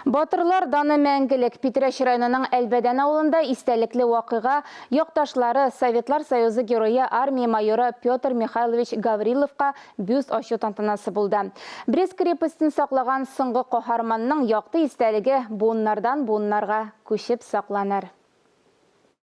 Батырлар даны мәңгелек! Питрәч районының Әлбәдән авылында истәлекле вакыйга, якташлары, Советлар Союзы Герое, армия майоры Петр Михайлович Гавриловка бюст ачу тантанасы булды. Брест крепостен саклаган соңгы каһарманның якты истәлеге буыннардан-буыннарга күчеп сакланыр.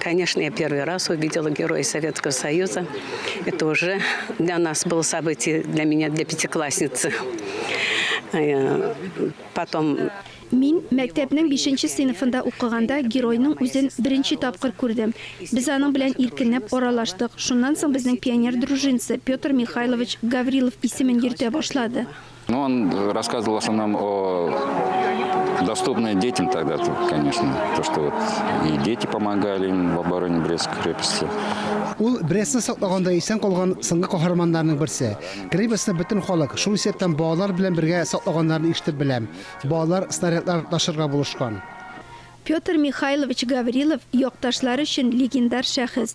Конечно, я первый раз увидела Героя Советского Союза. Это уже для нас было событие, для меня, для пятиклассницы. Э, потом Мин мәктәпнең 5нче сыйныфында укыганда геройның үзен беренче тапкыр күрдем. Без аның белән иркенләп аралаштык. Шуннан соң безнең пионер дружинасы Петр Михайлович Гаврилов исемен йөртә башлады. Ну, он рассказывал в основном о доступное детям тогда, конечно. То, что вот и дети помогали им в обороне Брестской крепости. Ул Брестны саклаганда исән калган соңгы каһарманнарның берсе. Крепостьны бөтен халык, шул исәптән балалар белән бергә саклаганнарын ишетеп беләм. Балалар снарядлар ташырга булышкан. Петр Михайлович Гаврилов якташлары өчен легендар шәхес.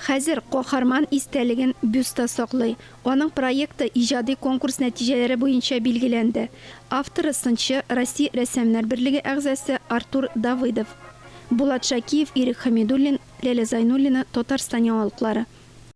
Хәзер каһарман истәлеген бюстта саклый. Аның проекты иҗади конкурс нәтиҗәләре буенча билгеләнде. Авторы сынчы, Россия рәссамнар берлеге әгъзасы Артур Давыдов. Булат Шакиев, Ирек Хәмидуллин, Ләлә Зайнуллина, Татарстан яңалыклары.